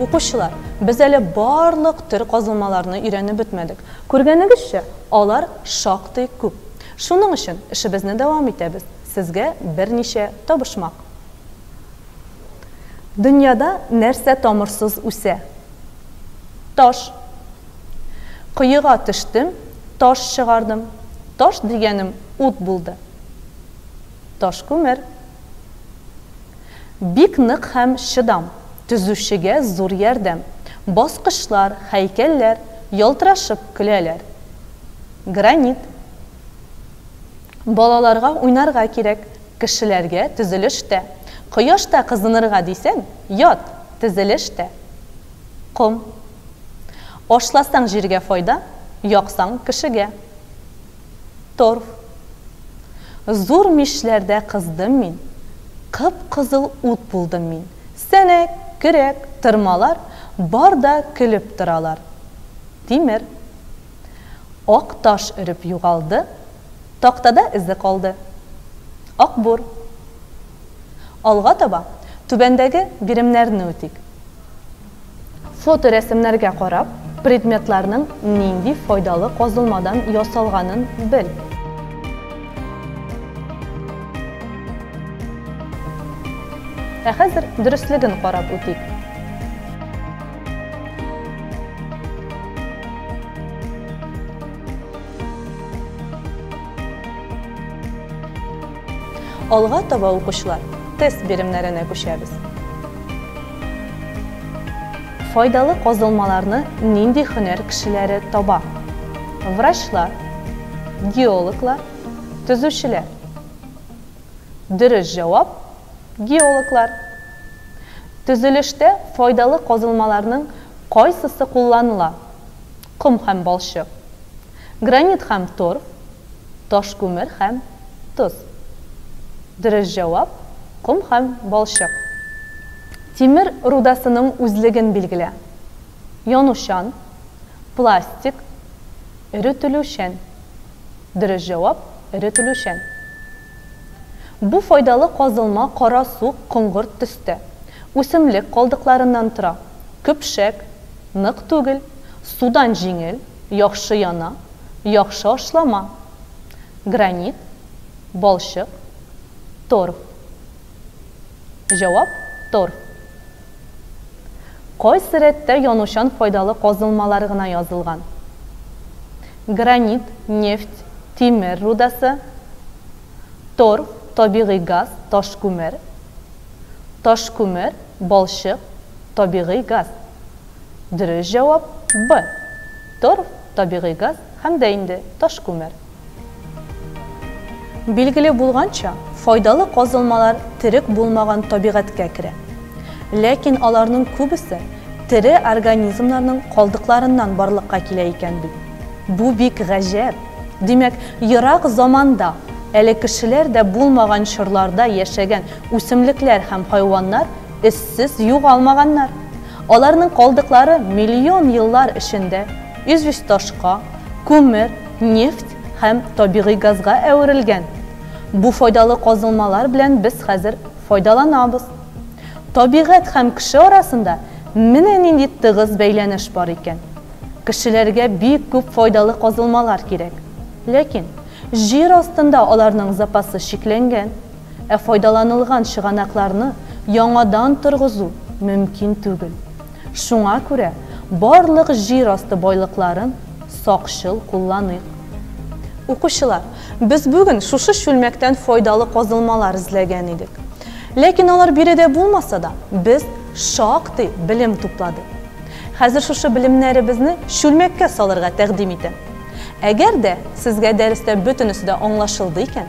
Укучылар, без әле барлык төр казылмаларны өйрәнеп бетмәдек. Күргәнегезчә, алар шактый күп. Шуның өчен эшебезне дәвам итәбез. Сезгә берничә табышмак. Дөньяда нәрсә тамырсыз үсә? Таш. Коега төштем, таш чыгардым. Таш дигәнем ут булды. Ташкүмер. Бик нык һәм чыдам, төзүчегә зур ярдәм. Баскычлар, һәйкәлләр ялтырашып көләләр. Гранит. Балаларга уйнарга кирәк, кешеләргә төзелештә. Кояшта кызынырга дисәң, ят! Тезелеш тә, ком. Ашласаң җиргә файда, яксаң кешегә. Торф. Зур мичләрдә кыздым мин, кып-кызыл ут булдым мин. Сәнәк, көрәк, тырмалар бар да көлеп торалар. Тимер. Ак таш өреп югалды, Тактада эзе калды. Акбур. Алга таба түбәндәге биремнәрне үтик. Фоторәсемнәргә карап, предметларның нинди файдалы казылмадан ясалганын бел. Ә хәзер дөреслеген карап үтик. Алга таба укучылар тест биремнәренә күчәбез. Файдалы казылмаларны нинди хөнәр кешеләре таба? Врачлар, геологлар, төзүчеләр. Дөрес җавап, геологлар. Төзелештә файдалы казылмаларның кайсысы кулланыла? Ком һәм балчык. Гранит һәм торф. Таш күмер һәм тоз. Дөрес җавап, ком һәм балчык. Тимер рудасының үзлеген билгелә. Янучан, пластик, эретелүчән. Дөрес җавап, эретелүчән. Бу файдалы казылма кара-суык коңгырт төстә, үсемлек калдыкларыннан тора, көпшәк, нык түгел, судан җиңел, яхшы яна, яхшы ашлама. Гранит, балчык, торф. Җавап, торф. Кайсы рәттә янучан файдалы казылмалар гына язылган? Гранит, нефть, тимер рудасы, тор, табигый газ, ташкүмер, ташкүмер, балчык, табигый газ. Дөрес җавап, Б. Торф, табигый газ һәм дә инде ташкүмер. Билгеле булганча, файдалы казылмалар терек булмаган табигатькә керә. Ләкин аларның күбесе тере организмнарның калдыкларыннан барлыкка килә икән бит. Бу бик гаҗәп! Димәк, ерак заманда, әле кешеләр дә булмаган чорларда яшәгән үсемлекләр һәм хайваннар эзсез югалмаганнар. Аларның калдыклары миллион еллар эчендә известь-ташка, күмер, Нефть һәм табигый газга әверелгән. Бу файдалы казылмалар белән без хәзер файдаланабыз. Табигать һәм кеше арасында менә нинди тыгыз бәйләнеш бар икән. Кешеләргә бик күп файдалы казылмалар кирәк. Ләкин җир астында аларның запасы чикләнгән. Ә файдаланылган чыганакларны яңадан торгызу мөмкин түгел. Шуңа күрә барлык җир асты байлыкларын сакчыл кулланыйк. Укучылар, без бүген шушы чүлмәктән файдалы казылмалар эзләгән идек. Ләкин алар биредә булмаса да, без шактый белем тупладык. Хәзер шушы белемнәребезне чүлмәккә салырга тәкъдим итәм. Әгәр дә сезгә дәрестә бөтенесе дә аңлашылды икән,